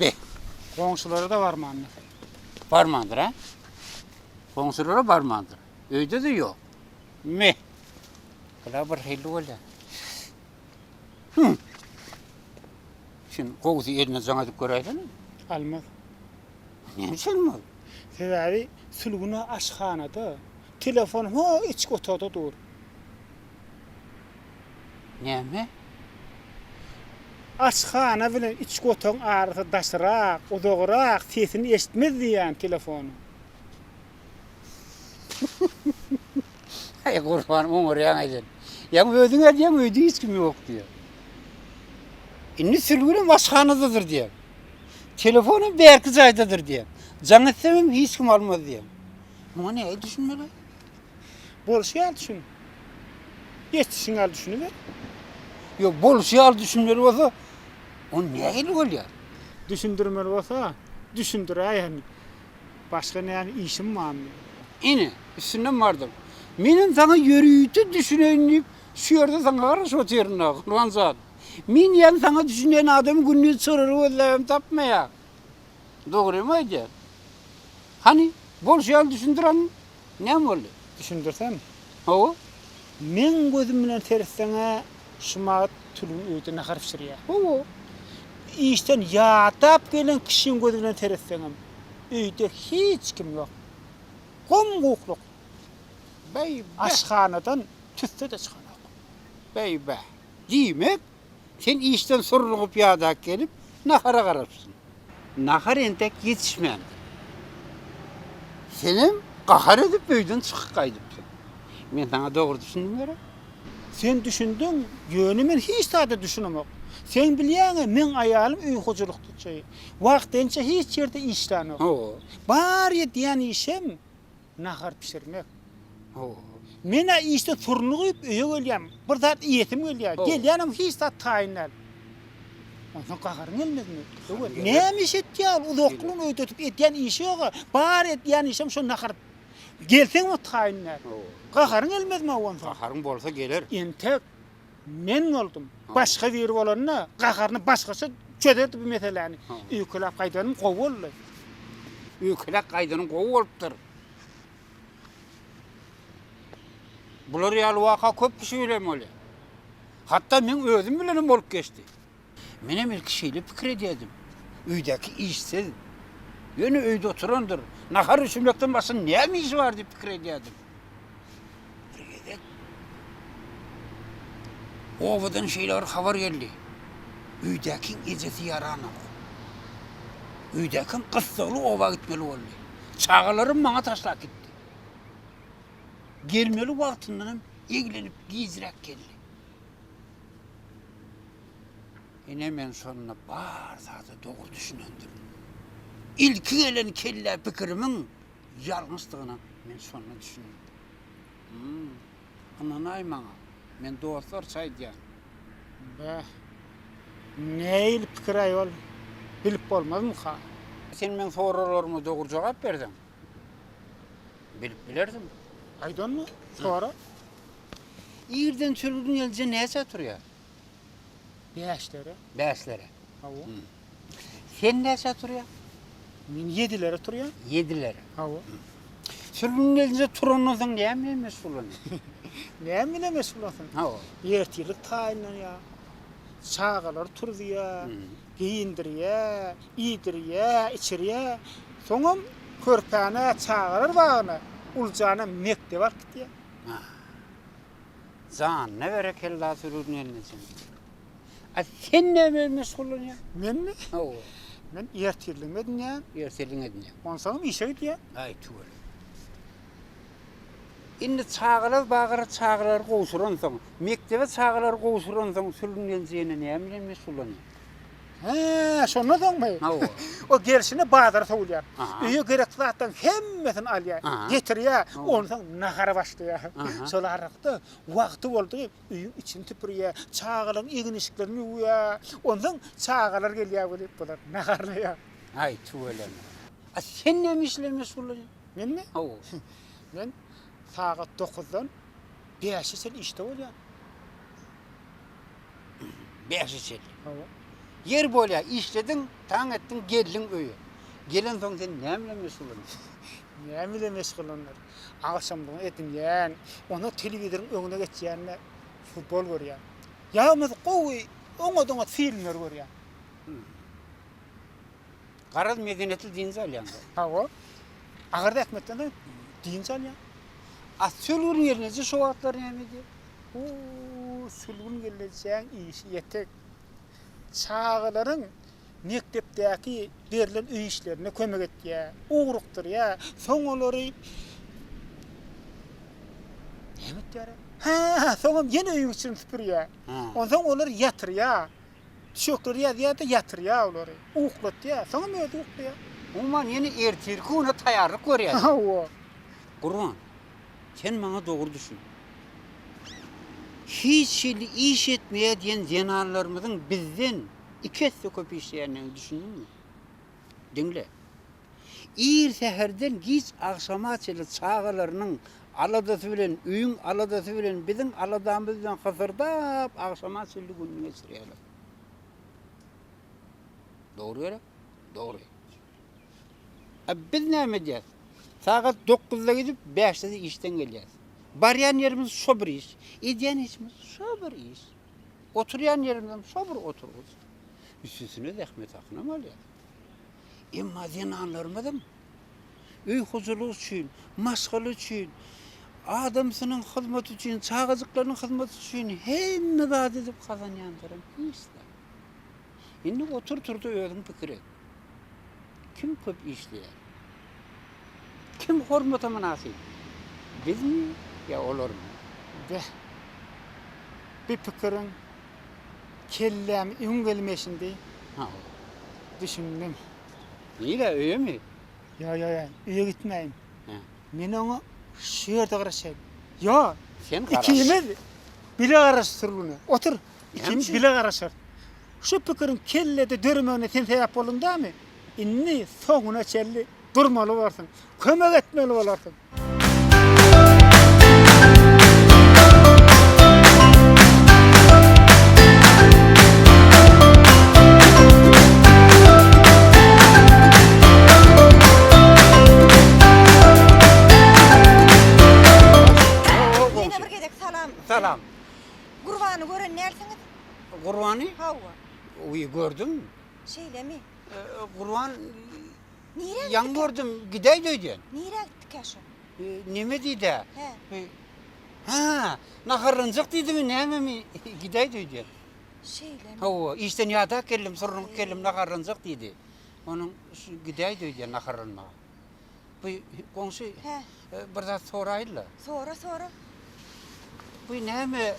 Be. Goňşulara-da barmandyr. Barmandyr, hä? Goňşulara barmandyr. Öýde-de ýok. Me. Bula bir hilli bolýar. Hü. Şun gowusy eline jaň edip göräýsene. Almaz. Näme üçin almaz? Sebäbi sülgüne aşhanada, telefon ho iç otagda dur. Näme? Aşhana bilen içki otagyň arasy daşrak, uzagrak, sesini eşitmez diýýän telefonyň. Aý, gurban, oňarýaň-aý sen. Ýaňy özüň edýäň, öýde hiç kim ýok diýýär. Indi sülgünem aşhanadadyr diýýär. Telefonam bärki jaýdadyr diýýär. Jaň etsem hem hiç kim almaz diýýär. Muňa nähili düşünmeli? Bolşy ýaly düşün. Geçişiň ýaly düşüniber. Ýok, bolşy ýaly düşünmeli bolsa, ony nähili bolýar? Düşündirmeli bolsa, düşündiräýen. Başga näme işim barmy? Ine, üstünden bardym. Menem saňa ýörite düşüneýin diýip, şu ýerde saňa garaşyp otyryn-a, Gurban jan. Men ýaly saňa düşünýän adamy gündiz çyryr gözläbem tapmaýar. Dogrymy aýdýan? Hany, bolşy ýaly düşündiraň, Näme boldy? Düşündirsem? Hawa. Meň gözüm bilen seretseň-ä, Şumat tülgün öýde nahar bişirýär. Hawa. Işden ýadap gelen kişiň gözi bilen seretseňem, öýde hiç kim ýok. Gom-gukluk. Beý-bä! Aşhanadan tüsse-de çykanok. Beý-bä! Diýmek, Sen işden surlugyp ýadak gelip, nahara garapsyň. Nahar entek ýetişmändir. Senem gahar edip öýden çykyp gaýdypsyň. Men saňa dogry düşündim gerek? Sen düşündiň, ýöne men hiç zada düşünemok. Seň bilýäňä meň aýalym öý hojalykçy. Wagtynça hiç ýerde işlänok. Bar edýän işem Nahar bişirmek. Ho. Men-ä işde turnugyp öýe gelýän. Bir zat iýesim gelýär. Gelýänem hiç zat taýyn däl. Onsoň gaharyň gelmezmi? Öwez, näme iş etýä ol? Uzaklygyny öýdetip edýän işi ýog-a. Bar edýän işem şo nahar. Gelseňem taýyn däl. Gaharyň gelmezmi-ow onsoň? Gaharym bolsa geler. Entek. Men boldum. Başga biri bolanda gaharyny başgaça çözerdi bu meseläni. Öýkeläp gaýdanym gowy boldy. Öýkeläp gaýdanym gowy bolupdyr. Bular ýaly waka köp kişi bilen bolýar. Hatda meň özüm bilenem bolup geçdi. Menem ilki şeýle pikir edýärdim. Öýdäki işsiz. Ýöne öýde oturandyr. Nahar bişirmekden başga näme işi bar diýip pikir edýärdim. Bir gezek obadan şeýle bir habar geldi. Öýdäkiň ejesi ýaranok. Öýdäkim gyssagly oba gitmeli boldy. Çagalarymy maňa taşlap gitdi. Gelmeli wagtyndanam eglenip gijräk geldi. Ine men şonda bar zada dogry düşünendim. Ilki gelen kellä pikirimiň ýalňyşdygyna men şonda düşündim. Hum, ynanaý maňa, men dostlarça aýdýan. Bäh, nähili pikir-aý ol, bilip bolmazmyka? Sen meň soraglaryma dogry jogap berseň, Bilip bilerdim. Aýdanmy? Sora. Irden çürgüň elje näçä turýar? Bäşlere. Bäşlere. Hawa. Sen näçä turýaň? Men ýedilere turýan. Ýedilere. Hawa. Çürgüň elje turandan soň näme bilen meşgullanýaň? Näme bilen meşgullansaň? Hawa. Ertirlik taýynlanýar. Çagalary turuzýar. Geýindirýä, iýdirýä, içirýä, soňam körpäni çagalar bagyna, uljanam mekdebe alyp gidýä. Haa. Janyna berekella Sürgün gelnejeň. A sen näme bilen meşgullanýaň? Menmi? Hawa. Men ertirligim edinýän. Ertirligiňi edinýäň. Onsoňam işe gidýän. Aý tüweleme. Indi çagalar bagyra çagalary gowşuransoň, mekdebe çagalary gowşuransoň sürgünleniş ýene näme bilen meşgullanýar? Hä, şondan soňmy? Hawa. Ol gelşine bazara sowulýar. Öýe gerekli zatlaryň hemmesini alýar, getirýär, onsoň nahara başlaýar. Şol aralykda wagty boldy, öýüň içini süpürýär, çagalaryň egin-eşiklerini ýuwýar. Onsoň çagalar gelýär welin, bular naharlaýar. Aý, tüweleme. A sen näme iş bilen meşgullanýaň? Mende hawa. Men sagat dokuzdan bäşe çenli işde bolýan. Bäşe çenli. Hawa. Ýer bolýar, işlediň, taň etdiň, geldiň öýe. Gelensoň sen näme bilen meşgullanýaň? Näme bilen meşgullanýar? Agşamlygyň etini ýän, onda telewizoryň öňüne geçýän-de futbol görýän. Ýa bolmasa gowy oňat-oňat filmler görýän. Garaz medeniýetli dynç alýaň da. Hawa. Agar zähmetden dynç alýaň. A sülgün gelneje şu wagtlar näme edýär? Huu, sülgün gelnejäň işi ýetik. Çagalaryň mekdepdäki berlen öý işlerine kömek etýär, ugrukdyrýar, soň olary näme etýär? Hä, soňam ýene öýüň içini süpürýär. Onsoň olary ýatyrýar. Çökleri ýazýar-da, ýatyrýar olary. Uklatýar. Soňam özi uklaýar. Umuman, ýene ertirki güne taýýarlyk görýäris. Hawa. Gurban, sen maňa dogry düşün. Hiç hili iş etmeýär diýen zenanlarymyzyň bizden iki esse köp işleýändigine düşündiňmi? Diňle. Ir säherden giç agşama çenli çagalarynyň aladasy bilen, öýüň aladasy bilen, biziň aladamyz bilen hysyrdap agşama çenli gününi geçirýärler. Dogry gerek? Dogry. A biz näme edýäs? Sagat dokuzda gidip, bäşde-de işden gelýäs. Barýan ýerimiz şo bir iş, edýän işimiz şo bir iş. Oturýan ýerimizem şo bir oturgyç. Üstesine zähmet hakyny hem alýas. Emma zenanlarymyzam öý hojalygy üçin, maşgala üçin, adamsynyň hyzmaty üçin, çagajyklarynyň hyzmaty üçin hemme zady edip gazanýandyram hiç zat. Indi otur-tur-da özüň pikir et. Kim köp işleýär? Kim hormata mynasyp? Bizmi ýa olarmy? Beh. Bu pikiriň kellämi iň gelmeşindi. Hawa. Düşündim. Nirä, öýemi? Ýa, ýa, ýa, öýe gitmäýin. Hä. Men oňa şu ýerde garaşaýyn. Ýa, Sen garaş. ikimiz bile garaşsyrguna. Otur, ikimiz bile garaşarys. Şu pikiriň kellede döremegine sen sebäp bolduň dämi? Indi soňuna çenli durmaly borsuň. Kömek etmeli bolarsyň. Salam. Gurbany gören närsiňiz? Gurbany? Hawa. Oý, gördüm. Şeýlemi? Gurban Nirä ýaňy gördüm, gidäýdi öýden. Nirä gitdikä şol? Neme diýdi-ä? He. Ha, naharlanjak diýdimi, nämemi? Gidäýdi öýden. Şeýlemi? Hawa, işden ýadak geldim, surnup geldim, naharlanjak diýdi. Onuň gidäýdi öýden naharlanmaga. Bu goňşy Hä. bir zat soraýyn-la. Sora, sora. Bu näme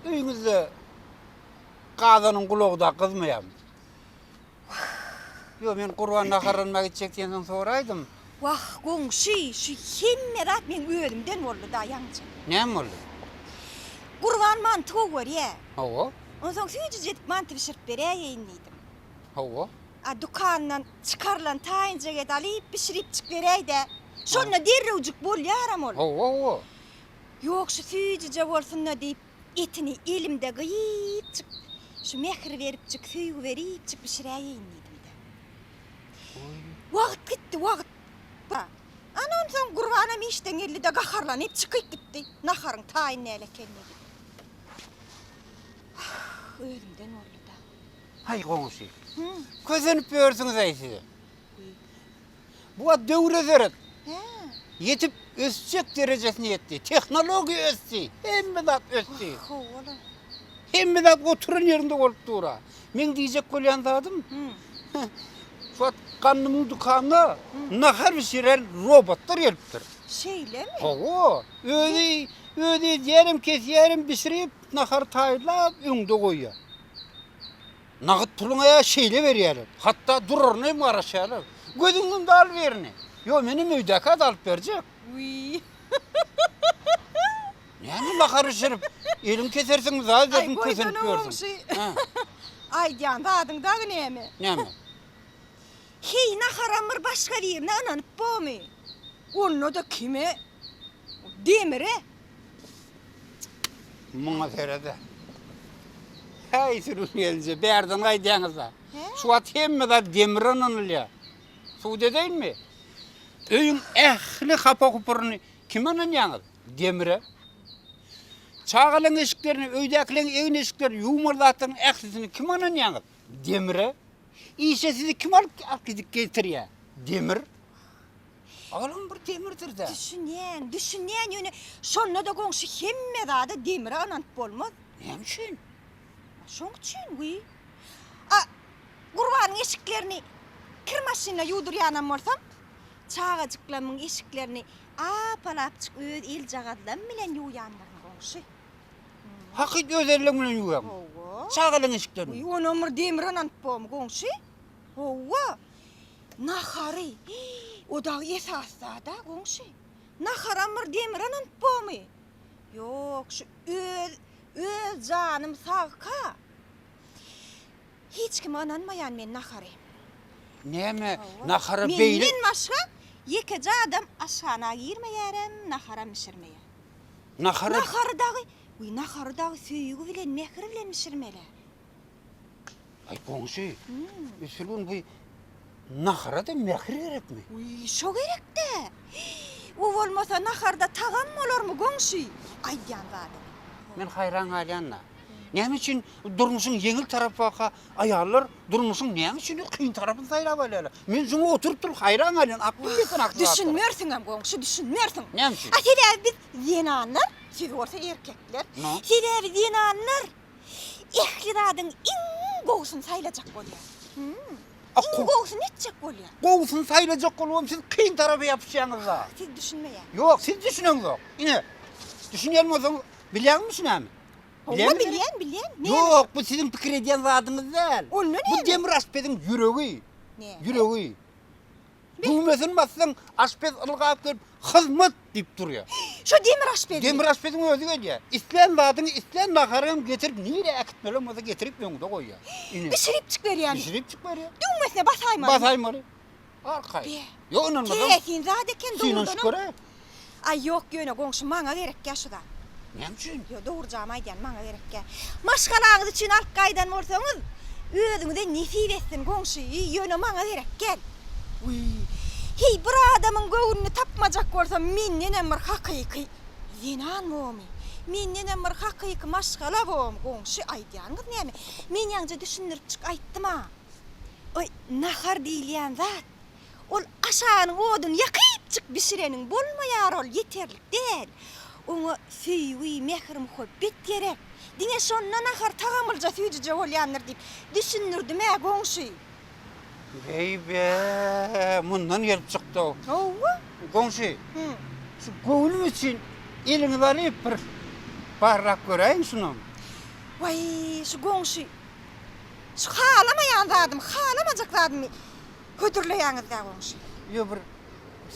öýüňizde gazanyň gulagy-da gyzmaýarmy? Ýok, men Gurban naharlanma gitjek diýensoň soraýdym. Wah, goňşy, şu hemme zat meň özümden boldy-da, ýaňja. Näme boldy? Gurban manty gowy görýä. Hawa. Onsoň süýjüjek manty bişirip beräýeýin diýdim. Hawa. A dükandan çykarylan taýynjagedy alyp bişiripjik beräýdä. Şonda derrewjik bolýaram ol. Hawa, hawa. Ýok, şu süýjüje bolsun-da diýip, etini elimde gyýypjyk, şu mähir beripjik, söýgi beripjik bişiräýeýin diýdim-de. Wagt gitdi, wagt. Ana onsoň Gurbanam işden geldi-de gaharlanyp çykyp gitdi. Naharyň taýyn näle ekenini edip. Wah, özümden boldy-da. Haý goňşy. Kösenip ýörsüňiz-aý siz. Bu wagt döwür özerip. Ýetip ösjek derejesine ýetdi. Tehnologiýa ösdi. Hemme zat ösdi. Howala. Hemme zat oturan ýerinde bolup dur. Meň diýjek bolýan zadym. Şu wagt gandymyň dükanyna nahar bişiren robotlar gelipdir. Şeýlemi? Hawa. Özi özi edýärem, kesýärem, bişirip, nahary taýýarlap öňde goýýar. Nagyt puluňa ýa şeýle berýärler. Hatda duraryna hem garaşýarlar. Gözüň ýumdy al birini. Ýok, menem öýdäki az alyp berjek. Näme makar bişirip, eliňi kesersiňmi zat edersiň kösenip ýörsiň. Aýdýan zadyň dagy näme? Näme? Heý naharam bir başga birine ynanyp bomy? Onda-da kime? Demiri. Muňa serede. Häý sürüm gelje, bärden gaýdýaňyz-a. Şu wagt hemme zat demire ynanylýar. Sud edeýinmi? Öýüň ähli hapa-hupuryny kime ynanýaňyz? Demire. Çagalaryň eşiklerini, öýdäkileriň egin-eşiklerini, ýuwmaly zatlaryň ählisini kime ynanýaňyz? Demire. Işe sizi kim alyp gidip getirýär? Demir. Olam bir demirdir-dä. Düşünýän, düşünýän, ýöne şonda-da goňşy hemme zada demire ynanyp bolmaz. Näme üçin? Şoň üçin wiý. A Gurbanyň eşiklerini kir maşynla ýuwdurýanam bolsam, çagajyklamyň eşiklerini ap-alapjyk öz eljagazlam bilen ýuwýandyryn, goňşy. Hakyt öz elleň bilen ýuwýaňmy? Hawa. Çagalaň eşiklerini? Wiý, onam bir demire ynanyp bormy, goňşy? Hawa. Nahary! O dagy esas zad-a, goňşy. Naharam bir demiranynt bomy? Ýok, şu öz, öz janym sag-ka. Hiç kime ynanmaýan men nahary. Näme, nahara beýle. Menden başga ýekeje adam aşhana girmeýärem, naharam bişirmeýär. Nahary. Nahary dagy, wiý, nahary dagy söýgi bilen, mähir bilen bişirmeli-ä. Aý goňşy, üsülgün bu nahara-da mähir gerekmi? Wiý, şo gerek-dä. O bolmasa naharda tagam bolarmy goňşy, aýdýan zadyň. Men haýran galýan-da. Näme üçin durmuşyň ýeňil tarapy baka aýallar durmuşyň näme üçin kyn tarapyny saýlap alýarlar? Men şuňa oturyp durup haýran galýan, aklyň ýetsin akyl zatlara. Düşünmersiňem goňşy, düşünmersiň. Näme üçin? A sebäbi biz zenanlar, siz bolsa erkekler. Sebäbi zenanlar. Ähli zadyň iň gowusyny saýlajak bolýar. Iň gowusyny etjek bolýar. Gowusyny saýlajak bolubam siz kyn tarapa ýapyşýaňyz-a. Siz düşünmeýäňiz. Ýok, siz düşüneňzok. Ine, düşünýän bolsaňyz, bilýäňmi düşünämi? Hawa, bilýän, bilýän. Ýok, bu siziň pikir edýän zadyňyz däl. Onda näme? Bu demirasbediň ýüregi. Ýüregi. Düwmesini bassaň, aşpez ylgap gelip, Hyzmat! diýip durýar. Şo demir aşpezmi? Demir aşpeziň özi gelýär. Islän zadyňy, islän nahary hem getirip, nirä äkitmeli hem bolsa getirip öňüňde goýýar. Ine. Bişiripjik berýärmi? Bişiripjik berýär. Düwmesine basaýmalymy? Basaýmaly. Arkaýyn. Be. Ýok, ynanmasaň. Keresin zat eken, dogrudanam. Synanyşyp göräý. Aý ýok ýöne goňşy maňa gerekýä şu zat. Näme üçin? Ýo dogry jamy aýdýan maňa gerekýä. Maşgalaňyz üçin alyp gaýdan bolsaňyz özüňize nesip etsin goňşy ýöne maňa gerekýän. Wiý. Heý bir adamyň göwnüni tapmajak bolsam mendenem bir hakyky zenan bomy? Mendenem bir hakyky maşgala bomy goňşy aýdýanyňyz näme? Men ýaňja düşündiripjik aýtdym-a. Oý nahar diýilýän zat Ol aşanyň oduny ýakypjyk bişireniň bolmaýar ol ýeterlik däl. Oňa söýgi, mähir-muhabbet gerek. Diňe şonda nahar tagamlyja süýjüje bolýandyr diýip düşündirdim-ä goňşy. Beýbä, mundan gelip çykdy-ow. Hawa. Goňşy, şu göwnüm üçin eliňizi alyp bir barlap göräýiň şunam. Waý, şu goňşy, şu halamaýan zadym, halamajak zadymy hödürleýäňizdä goňşy. Ýo bir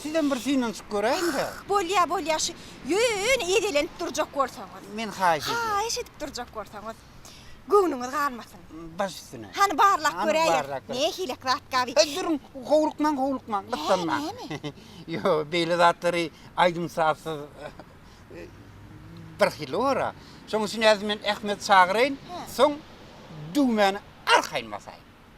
sizem bir synanyşyp göräýiňdä. Bolýa bolýa şu ýöne edelenip durjak bolsaňyz. Men haýyş edýän. Haýyş edip durjak bolsaňyz. Göwnüňiz galmasyn. Baş üstüne. Hany barlap göräýer. Nähilek zat gaby. He duruň howlukmaň howlukmaň gyssanmaň. Hä näme? Ýo beýle zatlary aýdym sazsyz bir hili bora. Şoň üçin häzir men Ahmedi çagyraýyn soň düwmäni arkaýyn basaýyn.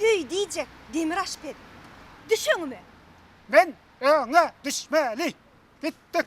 Öý diýjek demir aşpez. Düş öňüme! Men öňe düşmeli. Gitdik.